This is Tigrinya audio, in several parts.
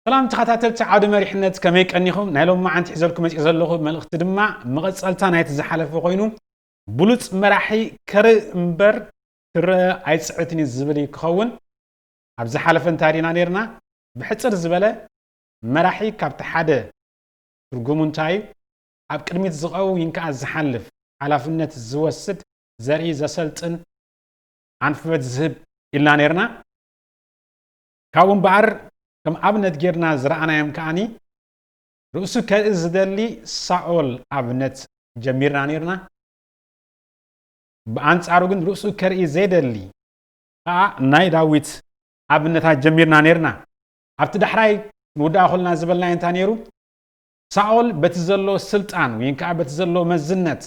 ሰላም ተኸታተልቲ ዓውደ መሪሕነት ከመይ ቀኒኹም ናይ ሎም መዓንቲ ሒዘልኩ መፅእ ዘለኹ መልእኽቲ ድማ መቐፀልታ ናይቲ ዝሓለፈ ኮይኑ ብሉፅ መራሒ ከርኢ እምበር ክረአ ኣይፅዕትን እዩ ዝብል እዩ ክኸውን ኣብ ዝሓለፈ እንታይ ርኢና ነርና ብሕፅር ዝበለ መራሒ ካብቲ ሓደ ትርጉሙ እንታይ እዩ? ኣብ ቅድሚት ዝቐውይን ከኣ ዝሓልፍ፣ ሓላፍነት ዝወስድ፣ ዘርኢ ዘሰልጥን፣ ኣንፍበት ዝህብ ኢልና ኔርና። ካብኡ እምበኣር ከም ኣብነት ጌርና ዝረኣናዮም ከኣ ርእሱ ከርኢ ዝደሊ ሳኦል ኣብነት ጀሚርና ኔርና። ብኣንጻሩ ግን ርእሱ ከርኢ ዘይደሊ ከኣ ናይ ዳዊት ኣብነታት ጀሚርና ኔርና። ኣብቲ ዳሕራይ ንውዳኣ ኮልና ዝበልናዮ እንታይ ነይሩ? ሳኦል በቲ ዘለዎ ስልጣን ወይን ከኣ በቲ ዘለዎ መዝነት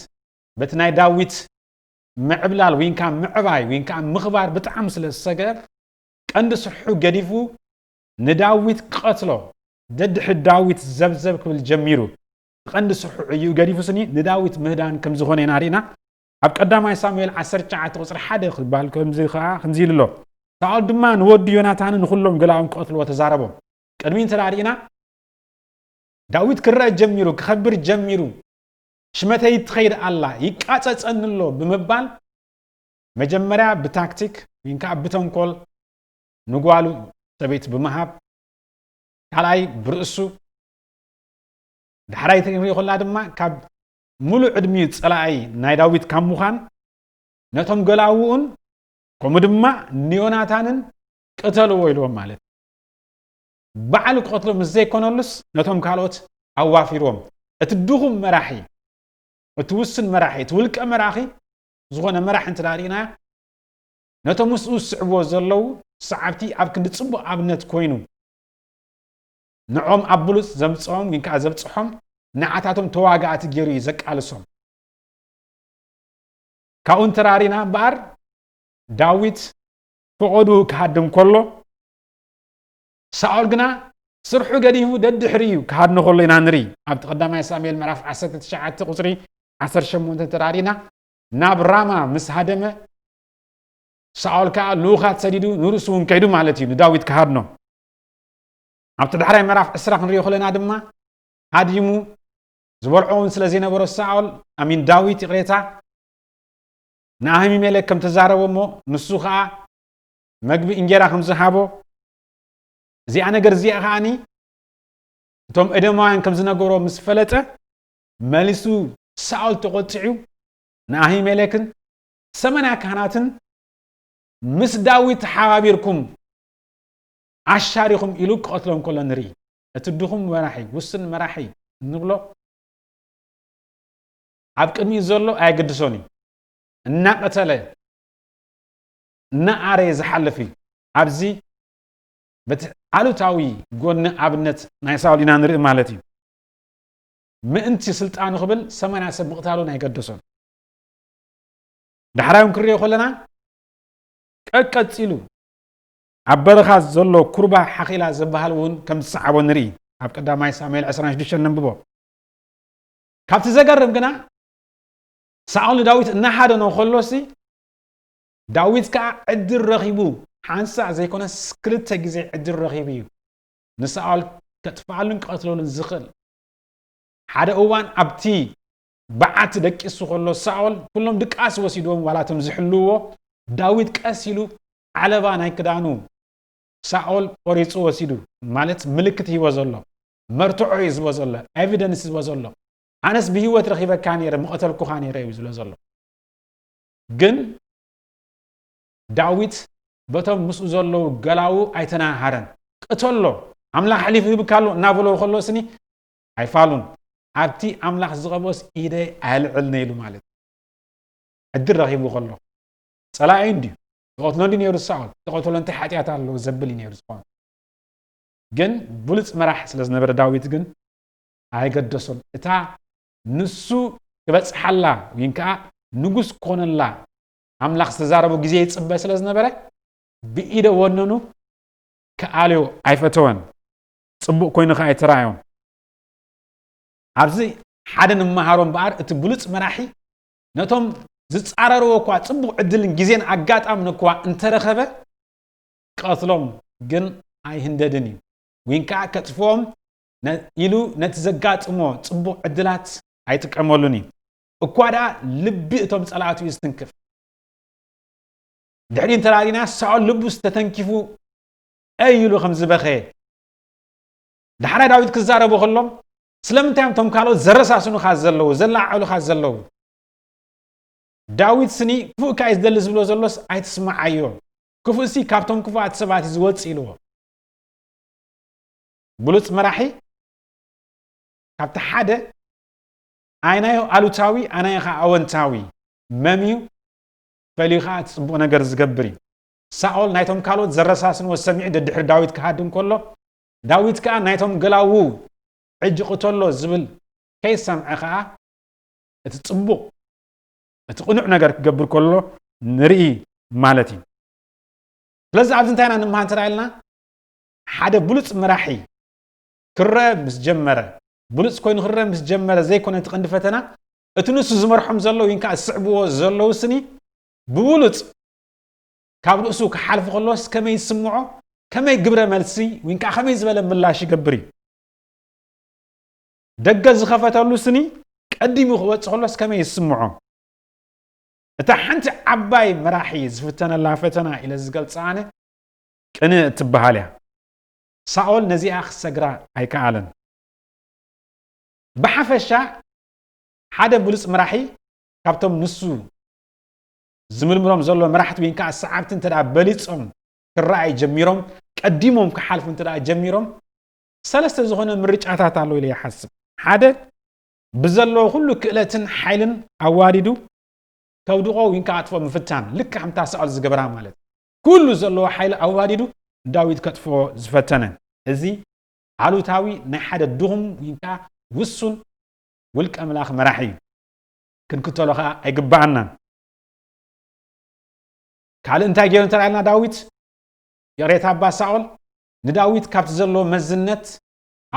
በቲ ናይ ዳዊት ምዕብላል ወይን ከኣ ምዕባይ ወይን ከኣ ምኽባር ብጣዕሚ ስለ ዝሰገ ቀንዲ ስርሑ ገዲፉ ንዳዊት ክቐትሎ ደድሕሪ ዳዊት ዘብዘብ ክብል ጀሚሩ። እቲ ቀንዲ ስርሑ ዕይኡ ገዲፉ ስኒ ንዳዊት ምህዳን ከም ዝኾነ ኢና ሪእና። ኣብ ቀዳማይ ሳሙኤል ዓሰርተ ትሽዓተ ቁጽሪ ሓደ ክባል ከምዚ ከኣ ከምዚ ኢሉ ኣሎ ሳኦል ድማ ንወዱ ዮናታንን ንዅሎም ገላዉን ክቐትልዎ ተዛረቦም። ቅድሚኡ እንተ ርኢና ዳዊት ክረኣ ጀሚሩ ክኸብር ጀሚሩ ሽመተይ ትኸይድ ኣላ ይቃጸጸኒ ኣሎ ብምባል መጀመርያ ብታክቲክ ወይ ከኣ ብተንኮል ንጓሉ ሰበይቲ ብምሃብ ካልኣይ ብርእሱ ዳሕራይ ትርኢ ከላ ድማ ካብ ምሉእ ዕድሚኡ ጸላኢ ናይ ዳዊት ካብ ምዃን ነቶም ገላዉኡን ከምኡ ድማ ንዮናታንን ቅተልዎ ኢልዎም ማለት እዩ። ባዕሉ ክቐትሎ ምስ ዘይኮነሉስ ነቶም ካልኦት ኣዋፊርዎም። እቲ ድኹም መራሒ፣ እቲ ውሱን መራሒ፣ እቲ ውልቀ መራኺ ዝኾነ መራሒ እንተ ርኢናዮ ነቶም ምስኡ ዝስዕብዎ ዘለዉ ሰዓብቲ ኣብ ክንዲ ጽቡቕ ኣብነት ኮይኑ ንዖም ኣብ ብሉጽ ዘምጽኦም ግን ከኣ ዘብጽሖም ንዓታቶም ተዋጋእቲ ገይሩ እዩ ዘቃልሶም። ካብኡ እንተራሪና እምበኣር ዳዊት ፍቐዱ ክሃድም ከሎ ሳኦል ግና ስርሑ ገዲፉ ደድሕሪ እዩ ክሃድኖ ከሎ ኢና ንርኢ። ኣብቲ ቀዳማይ ሳሙኤል ምዕራፍ 19 ቁጽሪ 18 እንተራሪና ናብ ራማ ምስ ሃደመ ሳኦል ከዓ ልኡኻት ሰዲዱ ንርእሱ እውን ከይዱ ማለት እዩ ንዳዊት ክሃድኖ ኣብቲ ዳሕራይ ምዕራፍ ዕስራ ክንሪኦ ከለና ድማ ሃዲሙ ዝበልዖ እውን ስለ ዘይነበሮ ሳኦል ኣሚን ዳዊት ይቕሬታ ንኣህሚሜሌክ ከም ተዛረቦ እሞ ንሱ ከዓ መግቢ እንጀራ ከም ዝሃቦ እዚኣ ነገር እዚኣ ከዓኒ እቶም ኤደማውያን ከም ዝነገሮ ምስ ፈለጠ መሊሱ ሳኦል ተቖጢዑ ንኣሂሜሌክን ሰመንያ ካህናትን ምስ ዳዊት ተሓባቢርኩም ኣሻሪኹም ኢሉ ክቐትሎም ከሎ ንርኢ። እቲ ድኹም መራሒ፣ ውስን መራሒ እንብሎ ኣብ ቅድሚኡ ዘሎ ኣየገድሶን እዩ። እናቐተለ እናኣረየ ዝሓልፍ እዩ። ኣብዚ በቲ ኣሉታዊ ጎኒ ኣብነት ናይ ሳውል ኢና ንርኢ ማለት እዩ። ምእንቲ ስልጣኑ ክብል ሰማንያ ሰብ ምቕታሉን ኣይገደሶን። ዳሕራዮም ክንሪኦ ከለና ቀቀፂሉ ኣብ በረኻ ዘሎ ኩርባ ሓኺላ ዝበሃል እውን ከም ዝሰዓቦ ንርኢ፣ ኣብ ቀዳማይ ሳሙኤል ዕስራን ሽዱሽተን ነንብቦ። ካብቲ ዘገርም ግና ሳኦል ንዳዊት እናሃደኖ ከሎሲ ዳዊት ከዓ ዕድል ረኺቡ ሓንሳእ ዘይኮነስ ክልተ ግዜ ዕድል ረኺቡ እዩ ንሳኦል ከጥፍኣሉን ክቐትለሉን ዝኽእል። ሓደ እዋን ኣብቲ በዓቲ ደቂሱ ከሎ ሳኦል ኩሎም ድቃስ ወሲድዎም ዋላ እቶም ዝሕልውዎ ዳዊት ቀስ ኢሉ ዓለባ ናይ ክዳኑ ሳኦል ቆሪጹ ወሲዱ ማለት ምልክት ሂቦ ዘሎ መርትዖ እዩ ዝቦ ዘሎ ኤቪደንስ ዝቦ ዘሎ ኣነስ ብሂወት ረኺበካ ነይረ ምቐተልኩኻ ነይረ እዩ ዝብሎ ዘሎ ግን ዳዊት በቶም ምስኡ ዘለዉ ገላዉ ኣይተናሃረን ቅተሎ ኣምላኽ ኣሕሊፉ ይብካ ኣሎ እናበሎ ከሎ ስኒ ኣይፋሉን ኣብቲ ኣምላኽ ዝቐበስ ኢደይ ኣየልዕልነ ኢሉ ማለት ዕድል ረኺቡ ከሎ ጸላኢ እንድዩ ተቐትሎ እንዲ ነይሩ ሳኦል ተቐተሎ እንታይ ሓጢኣት ኣለዎ ዘብል እዩ ነይሩ ዝኾነ ግን ብሉፅ መራሕ ስለ ዝነበረ ዳዊት ግን ኣይገደሶን እታ ንሱ ክበጽሓላ ወይን ከዓ ንጉስ ኮነላ ኣምላኽ ዝተዛረቦ ግዜ ይጽበ ስለ ዝነበረ ብኢደ ወነኑ ክኣልዮ ኣይፈተወን ጽቡቕ ኮይኑ ከዓ ኣይተራእዮም ኣብዚ ሓደ ንመሃሮ እምበኣር እቲ ብሉፅ መራሒ ነቶም ዝጻረርዎ እኳ ጽቡቕ ዕድልን ግዜን ኣጋጣምን እኳ እንተረኸበ ክቐትሎም ግን ኣይህንደድን እዩ ወይን ከኣ ከጥፍኦም ኢሉ ነቲ ዘጋጥሞ ጽቡቕ ዕድላት ኣይጥቀመሉን እዩ እኳ ደኣ ልቢ እቶም ጸላእቱ እዩ ዝትንክፍ ድሕሪ እንተራሪና ሳኦል ልቡስ ተተንኪፉ ኣይ ኢሉ ከም ዝበኸየ ዳሕራይ ዳዊት ክዛረቡ ከሎም ስለምንታይ እዮም ቶም ካልኦት ዘረሳስኑኻ ዘለዉ ዘለዓዕሉኻ ዘለዉ ዳዊት ስኒ ክፉእ እካ እዩ ዝደሊ ዝብሎ ዘሎስ ኣይትስምዓዮ ክፉእ ሲ ካብቶም ክፉኣት ሰባት እዩ ዝወፅ ኢልዎ ብሉፅ መራሒ ካብቲ ሓደ ኣይናዮ ኣሉታዊ ኣናዮ ከዓ ኣወንታዊ መም እዩ ፈልዩ ከዓ እቲ ፅቡቕ ነገር ዝገብር እዩ ሳኦል ናይቶም ካልኦት ዘረሳስንዎ ሰሚዑ ደድሕሪ ዳዊት ክሃድም ከሎ ዳዊት ከኣ ናይቶም ገላዉ ሕጂ ቅተሎ ዝብል ከይሰምዐ ከኣ እቲ ጽቡቕ እቲ ቅኑዕ ነገር ክገብር ከሎ ንርኢ ማለት እዩ። ስለዚ ኣብዚ እንታይ ኢና ንምሃር እንተ ኢልና ሓደ ብሉጽ መራሒ ክረአ ምስ ጀመረ ብሉጽ ኮይኑ ክረአ ምስ ጀመረ ዘይኮነ እቲ ቀንዲ ፈተና እቲ ንሱ ዝመርሖም ዘለዉ ይንካ ዝስዕብዎ ዘለዉ ስኒ ብብሉጽ ካብ ርእሱ ክሓልፍ ከሎስ ከመይ ይስምዖ? ከመይ ግብረ መልሲ ወይ ከዓ ከመይ ዝበለ ምላሽ ይገብር እዩ? ደገ ዝኸፈተሉ ስኒ ቀዲሙ ክወፅ ከሎስ ከመይ ይስምዖ? እታ ሓንቲ ዓባይ መራሒ ዝፍተነላ ፈተና ኢለ ዝገልፃ ኣነ ቅንእ እትበሃል እያ። ሳኦል ነዚኣ ክሰግራ ኣይከኣለን። ብሓፈሻ ሓደ ብሉፅ መራሒ ካብቶም ንሱ ዝምርምሮም ዘሎ መራሕቲ ወይን ከዓ ሰዓብቲ እንተ በሊፆም ክረኣይ ጀሚሮም ቀዲሞም ክሓልፉ እንተ ጀሚሮም ሰለስተ ዝኾነ ምርጫታት ኣሎ ኢለ ይሓስብ ሓደ ብዘለዎ ኩሉ ክእለትን ሓይልን ኣዋዲዱ ከውድቆ ወይን ከዓ ኣጥፎ ምፍታን ልክ ከምታ ሳኦል ዝገበራ ማለት ኩሉ ዘለዎ ሓይሊ ኣዋዲዱ ዳዊት ከጥፎ ዝፈተነ እዚ ኣሉታዊ ናይ ሓደ ድኹም ወይን ከዓ ውሱን ውልቀ ምላኽ መራሒ እዩ ክንክተሎ ከኣ ኣይግበኣናን። ካልእ እንታይ ገይሩ እንተ ኢልና ዳዊት ይቕሬታ ኣባ ሳኦል ንዳዊት ካብቲ ዘለዎ መዝነት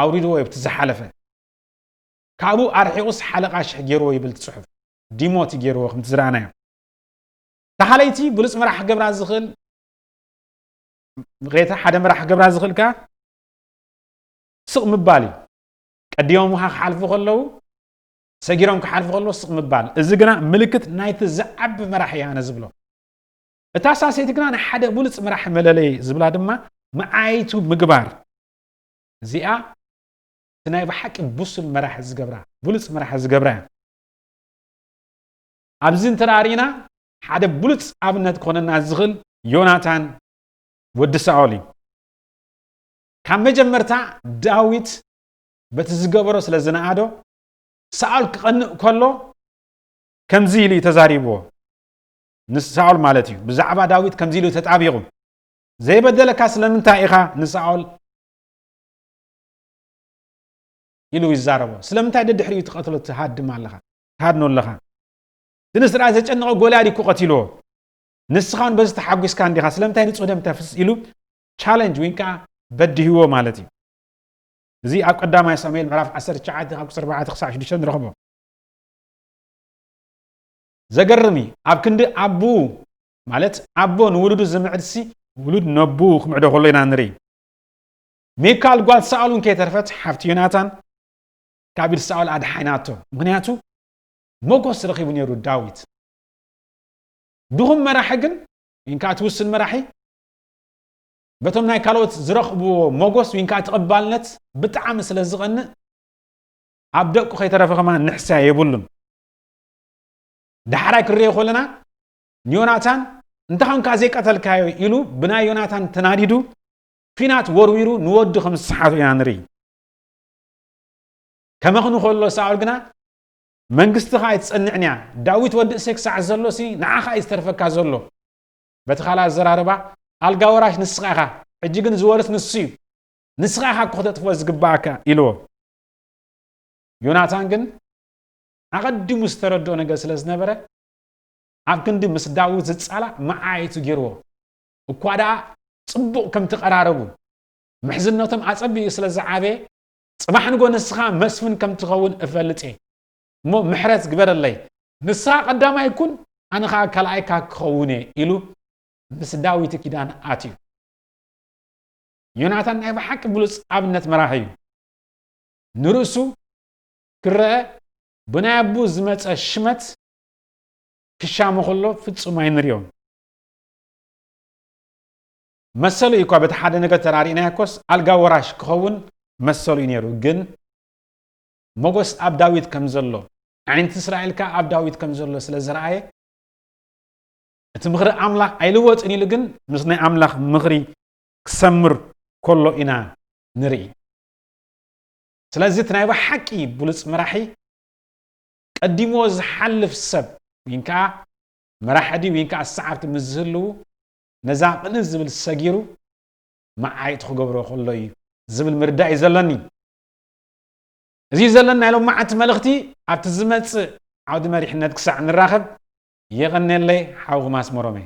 ኣውሪድዎ እዩ ኣብቲ ዝሓለፈ ካብኡ ኣርሒቑስ ሓለቓ ሽሕ ገይርዎ ይብል ትጽሑፍ ዲሞት እዩ ገይርዎ ከምቲ ዝረኣናዮ ተኻለይቲ ብሉፅ መራሕ ገብራ ዝኽእል ሬታ ሓደ መራሕ ገብራ ዝኽእል ከኣ ስቕ ምባል እዩ ቀዲሞምኻ ክሓልፉ ከለዉ ሰጊሮም ክሓልፉ ከለዉ ስቕ ምባል፣ እዚ ግና ምልክት ናይቲ ዝዓቢ መራሒ እየ ኣነ ዝብሎ። እታ ሳሰይቲ ግና ናይ ሓደ ብሉጽ መራሒ መለለዪ ዝብላ ድማ መዓይይቱ ምግባር፣ እዚኣ እቲ ናይ ብሓቂ ብሱል መራሒ ዝገብራ፣ ብሉጽ መራሒ ዝገብራ እያ። ኣብዚ እንተደኣ ርኢና ሓደ ብሉጽ ኣብነት ክኾነና ዝኽእል ዮናታን ወዲ ሳኦል እዩ። ካብ መጀመርታ ዳዊት በቲ ዝገበሮ ስለ ዝነኣዶ ሳኦል ክቐንእ ከሎ ከምዚ ኢሉ እዩ ተዛሪብዎ ንሳኦል ማለት እዩ ብዛዕባ ዳዊት ከምዚ ኢሉ ተጣቢቑ ዘይበደለካ ስለምንታይ ኢኻ ንሳኦል ኢሉ ይዛረቦ ስለምንታይ ደድሕሪኡ ትቐትሎ ትሃድም ኣለኻ ትሃድኖ ኣለኻ እቲ ንስራይ ዘጨነቐ ጎልያድ እኮ ቀቲልዎ ንስኻ እውን በዚ ተሓጒስካ እንዲኻ ስለምንታይ ንፁህ ደም ተፍስስ ኢሉ ቻለንጅ ወይ ከዓ በድህዎ ማለት እዩ እዚ ኣብ ቀዳማይ ሳሙኤል ምዕራፍ ዓሰርተ ትሽዓተ ካብ ቁጽሪ ኣርባዕተ ክሳዕ ሽዱሽተ ንረኽቦ። ዘገርም እዩ ኣብ ክንዲ ኣቡኡ ማለት ኣቦ ንውሉዱ ዝምዕድሲ ውሉድ ነቡኡ ክምዕዶ ከሎ ኢና ንርኢ። ሚካል ጓል ሳኦል እውን ከይተርፈት ሓፍቲ ዮናታን ካብ ኢድ ሳኦል ኣድሓናቶ ምክንያቱ ሞጎስ ረኺቡ ነይሩ ዳዊት። ድኹም መራሒ ግን ወይን ከዓ እቲ ውስን መራሒ በቶም ናይ ካልኦት ዝረኽብዎ ሞጎስ ዊን ከኣ ተቐባልነት ብጣዕሚ ስለ ዝቐንእ ኣብ ደቁ ከይተረፈ ከማን ንሕስያ የብሉን። ዳሕራይ ክንሪኦ ከለና ንዮናታን እንተ ኸንካ ዘይቀተልካዮ ኢሉ ብናይ ዮናታን ተናዲዱ ኲናት ወርዊሩ ንወዱ ከም ዝሰሓቱ ኢና ንርኢ። ከመኽኑ ከሎ ሳኦል ግና መንግስትኻ ኣይትጸንዕን እያ ዳዊት ወዲ እሴይ ክሳዕ ዘሎሲ ንዓኻ እዩ ዝተርፈካ ዘሎ በቲ ካልእ ኣዘራርባ ኣልጋ ወራሽ ንስኻ ኢኻ፣ ሕጂ ግን ዝወርስ ንሱ እዩ፣ ንስኻ ኢኻ እኮ ክተጥፍኦ ዝግብኣካ ኢልዎ። ዮናታን ግን ኣቐዲሙ ዝተረድኦ ነገር ስለ ዝነበረ ኣብ ክንዲ ምስ ዳዊት ዝጻላእ መዓይቱ ገይርዎ እኳ ደኣ ጽቡቕ ከም ትቐራረቡ ምሕዝነቶም ኣጸቢቑ ስለ ዝዓበየ ጽባሕ ንጎ ንስኻ መስፍን ከም ትኸውን እፈልጥ እየ እሞ ምሕረት ግበረለይ፣ ንስኻ ቀዳማይ ኩን ኣነ ኸኣ ካልኣይካ ክኸውን እየ ኢሉ ምስ ዳዊት ኪዳን ኣትዩ። ዮናታን ናይ ብሓቂ ብሉጽ ኣብነት መራሒ እዩ። ንርእሱ ክረኣ ብናይ ኣቡ ዝመጸ ሽመት ክሻሙ ከሎ ፍጹም ኣይንሪኦን። መሰሉ እዩ እኳ በቲ ሓደ ነገር ተራሪእናዮ ኮስ ኣልጋ ወራሽ ክኸውን መሰሉ እዩ ነይሩ ግን ሞጎስ ኣብ ዳዊት ከም ዘሎ፣ ኣዒንቲ እስራኤል ከኣ ኣብ ዳዊት ከም ዘሎ ስለ ዝረኣየ፣ እቲ ምኽሪ ኣምላኽ ኣይልወጥን ኢሉ ግን ምስ ናይ ኣምላኽ ምኽሪ ክሰምር ከሎ ኢና ንርኢ። ስለዚ እቲ ናይ ብሓቂ ብሉጽ መራሒ ቀዲምዎ ዝሓልፍ ሰብ ወይን ከኣ መራሒ ድዩ ወይን ከኣ ሰዓብቲ ምስ ዝህልዉ ነዛ ቅንእ ዝብል ሰጊሩ መዓይ'ቲ ክገብሮ ከሎ እዩ ዝብል ምርዳእ እዩ ዘለኒ። እዚ እዩ ዘለና ናይ ሎማዓንቲ መልእኽቲ ኣብቲ ዝመጽእ ዓውዲ መሪሕነት ክሳዕ ንራኸብ የቐኔለይ ሓውኹም ኣስመሮም እየ።